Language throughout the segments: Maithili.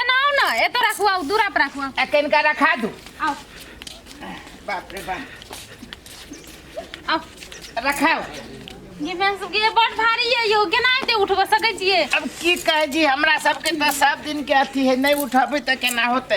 एना आउ ना एतो राखू आउ दूरा पर राखू आउ। आ कनिका रखा दू आउ बाप रे बाप आउ रखाओ ये मैं सब ये बड़ भारी है यो केना एते उठब सकै छियै अब की कहे जी हमरा सबके तो सब दिन के अथी है नहीं उठबे तो केना होते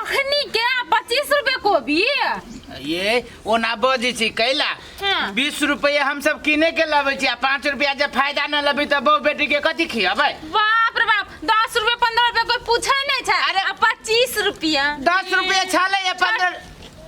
अखनी के पच्चीस रुपए कोबी ये ओ ना बजी छी कैला हाँ। बीस रुपया हम सब किने के लबे छी आ पाँच रुपया जब फायदा न लबे त बहू बेटी के कथी खियाबे बाप रे बाप दस रुपए पंद्रह रुपए कोई पूछे नहीं छै अरे- अरे पच्चीस रुपया दस रुपया छले या पंद्रह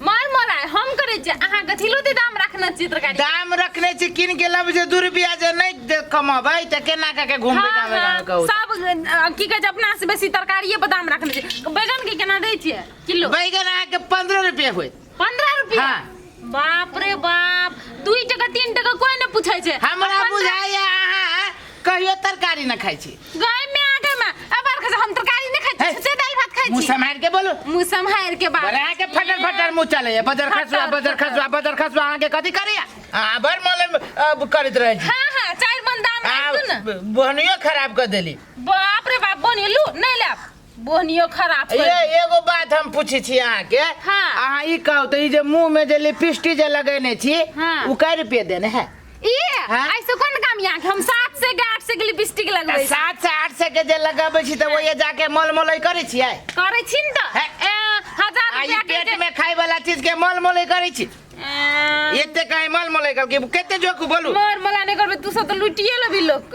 मार मराय हम करे जे अहाँ गथिलो ते दाम रखना छी तरकारी दाम रखने छी किन के लब जे 2 रुपया जे नै कमाबै त केना क के घुमबै हाँ, गावे हाँ, गावे सब की कह जे अपना से बेसी तरकारीए पर दाम रखने छी बैगन के केना दै छियै किलो बैगन अहाँ के 15 रुपया होय 15 रुपया हाँ। बाप रे बाप दुई टका तीन टका कोई नै पूछै छै हमरा बुझाइया अहाँ कहियो तरकारी न खाइ छी गाय में आ गए मैं अब आर खा हम तरकारी नहीं खाई छी, से दाल भात खाई मुंह छी संभाल के बोलो मुंह संभाल के बात बड़ा के फटर फटर मुंह चले बदर खसुआ बदर खसुआ बदर खसुआ आगे कथी करे आ बर मले अब करत रहे छी हां हां चार मन दाम आ, राख दू ना बहनियो खराब कर देली बाप रे बाप बनियो लू नहीं ले आप बोहनियो खराब कर ये एगो बात हम पूछे छी अहाँ के हाँ। अहाँ ई कहू तो ई जे मुंह में जे लिपस्टिक जे लगेने छी हाँ। उ कै रुपये देने है ये हाँ? ऐसे कोन काम यहाँ के हम सात से के आठ से के लिपस्टिक लगबै छी। सात से आठ से के जे लगाबै छी तो ओये जाके मोल मोलै करै छियै करै छी न तऽ हैं? ए, हजार आ ई रुपया के पेट जे- में खाय वाला चीज के मोल मोलै करै छी ए, एते कहीं मोल मोलै कर के कते जोक बोलू मोर मोला नहि करबै तू सब तऽ लुटिए लेबी लोक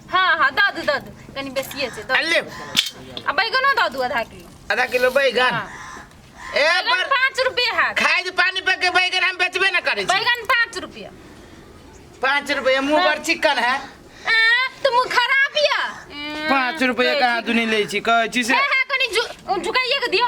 हाँ हाँ दऽ दू दऽ दू कनि बेसिए छै दऽ आ ले दू। आ बैगनो दऽ दू आधा किलो आधा किलो बैगन हाँ। ए बैगन पर पाँच रुपये है खाए जे पानी पे के बैगन हम बेचबे न करे छी बैगन पाँच रुपये पाँच रुपये मुँह पर चिकन है आ, तुम खराब यऽ पाँच रुपये कहाँ दुनी ले छी कहै छी से हे हे कनि झु- झुकाइए के दियो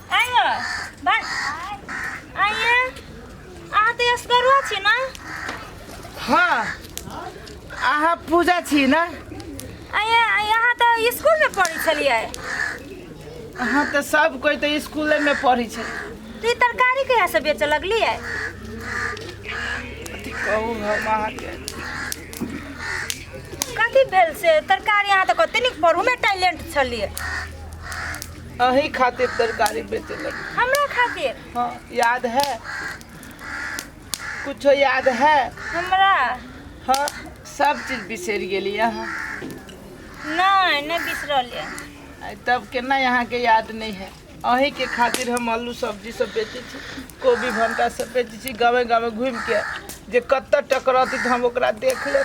आइयो भाग आइए अहाँ तऽ असगरुआ छी ने हाँ अहाँ पूजा छी ना आइए आइए अहाँ तऽ इसकुलमे पढ़ै छलियै अहाँ तऽ सब कोइ तऽ स्कूले में पढ़ी छै तऽ ई तरकारी कहियासँ बेचऽ लगलियै कथी कहू हम अहाँके कथी भेल से तरकारी अहाँ तऽ कते नीक पढ़ूमे टैलेंट छलियै अही खातिर तरकारी बेचे लगी हमरा खातिर हाँ याद है कुछो याद है हमरा हाँ सब चीज बिसर गेली अहाँ नहीं नहीं बिसरल है आइ तब केना यहाँ के याद नहीं है अही के खातिर हम आलू सब्जी सब बेचे छी कोबी भंटा सब बेचे छी गाँवे गाँवे घूम के जे कत टकराती तो हम ओकरा देख ले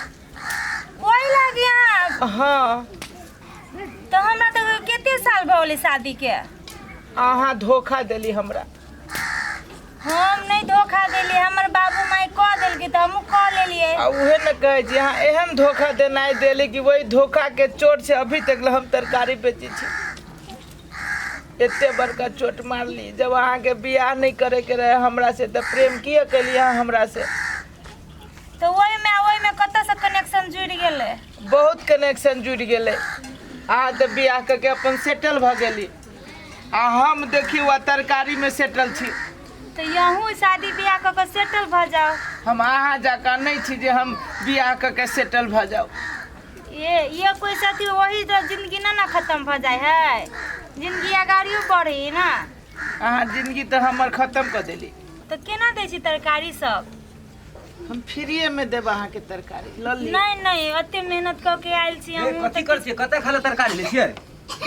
कोई लगी यहाँ हाँ तो हमरा तो केते साल भौले शादी के अहाँ धोखा देली हमरा हम नहीं धोखा देली हमर बाबू माई कह दिल की तो हमू कह लेलिए आ उहे न कहे छी अहाँ एहन धोखा देनाइ देली कि वही धोखा के चोट से अभी तक ले हम तरकारी बेची छी एते बड़का चोट मारली जब अहाँके बियाह नहीं करे के रहे हमरा से तऽ प्रेम किए केली अहाँ हमरा से तो वही में वही में कत से कनेक्शन जुड़ गेले बहुत कनेक्शन जुड़ि गेलै अहाँ तऽ बियाह कऽ के अपन सेटल भऽ गेली आ हम देखी वह तरकारी में सेटल छी तो यहूँ शादी ब्याह कऽ के सेटल भऽ जाओ हम अहाँ जकाँ नहि छी जे हम बियाह कऽ के सेटल भऽ जाउ ये ये कोई साथी वही तो जिंदगी ना ना खत्म भऽ जाए है जिंदगी अगाड़ियो बढ़े है ना अहाँ जिंदगी तऽ हमर खत्म कऽ देली तो केना दै छी तरकारी सब हम फ्रीए में देब अहाँके तरकारी लऽ ली नहीं नहीं अते मेहनत क के आयल छी ए, हम कथी कर छियै कतऽ खाले तरकारी लै छियै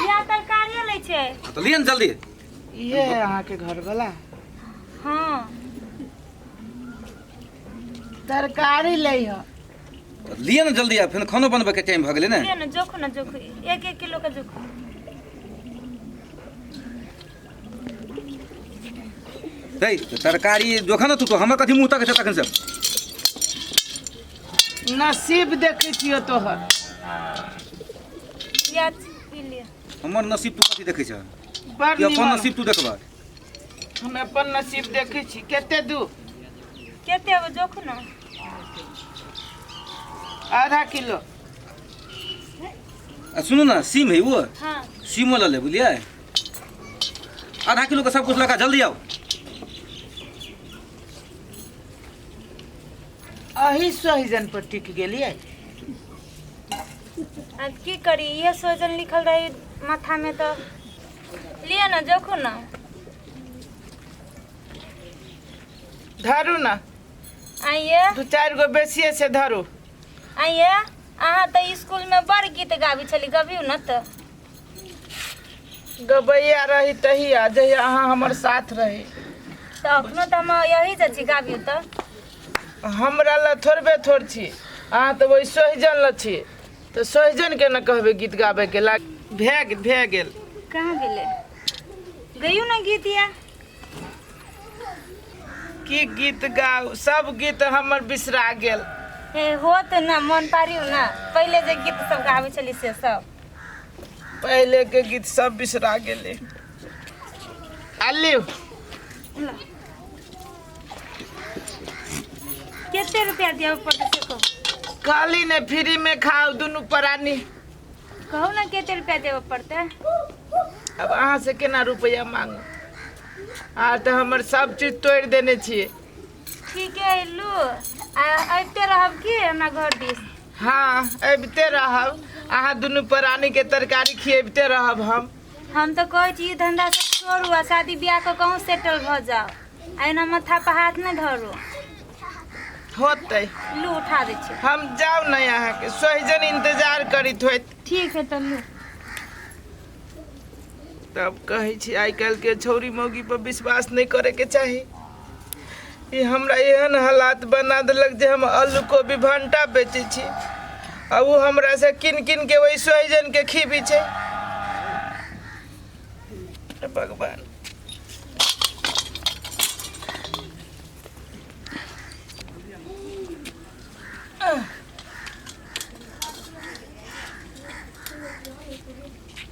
या तरकारी ले छे हँ, तऽ लिअ ने जल्दी इहे है अहाँके घरवला हां तरकारी लै ह लिअ ने जल्दी आ फेर खानो बनबै के टाइम भऽ गेलै ने ले न जोख न जोख एक एक किलो का जोख है तो तरकारी जोखा ना तू तो हमर कथी मुंह तक छै तखन से नसीब देखै छियो तोहर प्याज पी लिअ हमर नसीब तू कथी देखै छै बड़ कि अपन निमन नसीब तू देखबा हम अपन नसीब देखै छी कते दू कते एगो जोखू ने आधा किलो आ सुनू ना सीम है वो हाँ सीम वाला ले बुझलियै आधा किलो का सब कुछ लगा जल्दी आओ अही सोहिजन पर टिक गेलियै अब की करी ये सोजन लिखल रही माथा में तो लिया ना जोखू ना धरू न आइए दू चारि गो बेसिए से धरू आइए अहाँ तो स्कूल में बड़ गीत गाबी छली गबियौ ना तो गबैया रही तहिया जहिया अहाँ हमर साथ रही तऽ अखनो तऽ हम यही जे छी गाबियौ तऽ हमरा लए थोड़बे थोड़ छी अहाँ तऽ वही सोहिजन लए छी तऽ सोहिजन के ने कहबै गीत गाबै के लाग भए गेल भए गेल कहाँ गेलै गयौ ने गीत या की गीत गाउ सब गीत हमर बिसरा गेल ए, हो तऽ ने मन पारियौ ने पहिले जे गीत सब गाबै छली से सब पहले के गीत सब बिसरा गेले आलियो कितने रुपया दिया ऊपर से को काली ने फ्री में खाओ दुनू परानी कहो ना कितने रुपया देवे पड़ते अब अहाँ से केना रुपया मांगू आ तो हमर सब चीज तोड़ देने छिए ठीक है लू आ अबते रहब की हमरा घर दिस हाँ अबिते रहब अहाँ दुनू प्राणी के तरकारी खियबिते रहब हम हम तो कहै छी ई धंधा सब छोड़ू आ शादी ब्याह के कहूँ सेटल भऽ जाओ आ एना माथा पर हाथ नहि धरू होतै लू उठा दै छी हम जाउ नहि अहाँके सोहिजन इंतजार करित होइत ठीक है तऽ लू तब कहै छी आइ काल्हिके छौरी मौगीपर विश्वास नहि करैके चाही ई हमरा एहन हालात बना देलक जे हम आलू कोबी भंटा बेचै छी आ ओ हमरा से किन किन के वही सोहजन के खीबी छै हे भगवान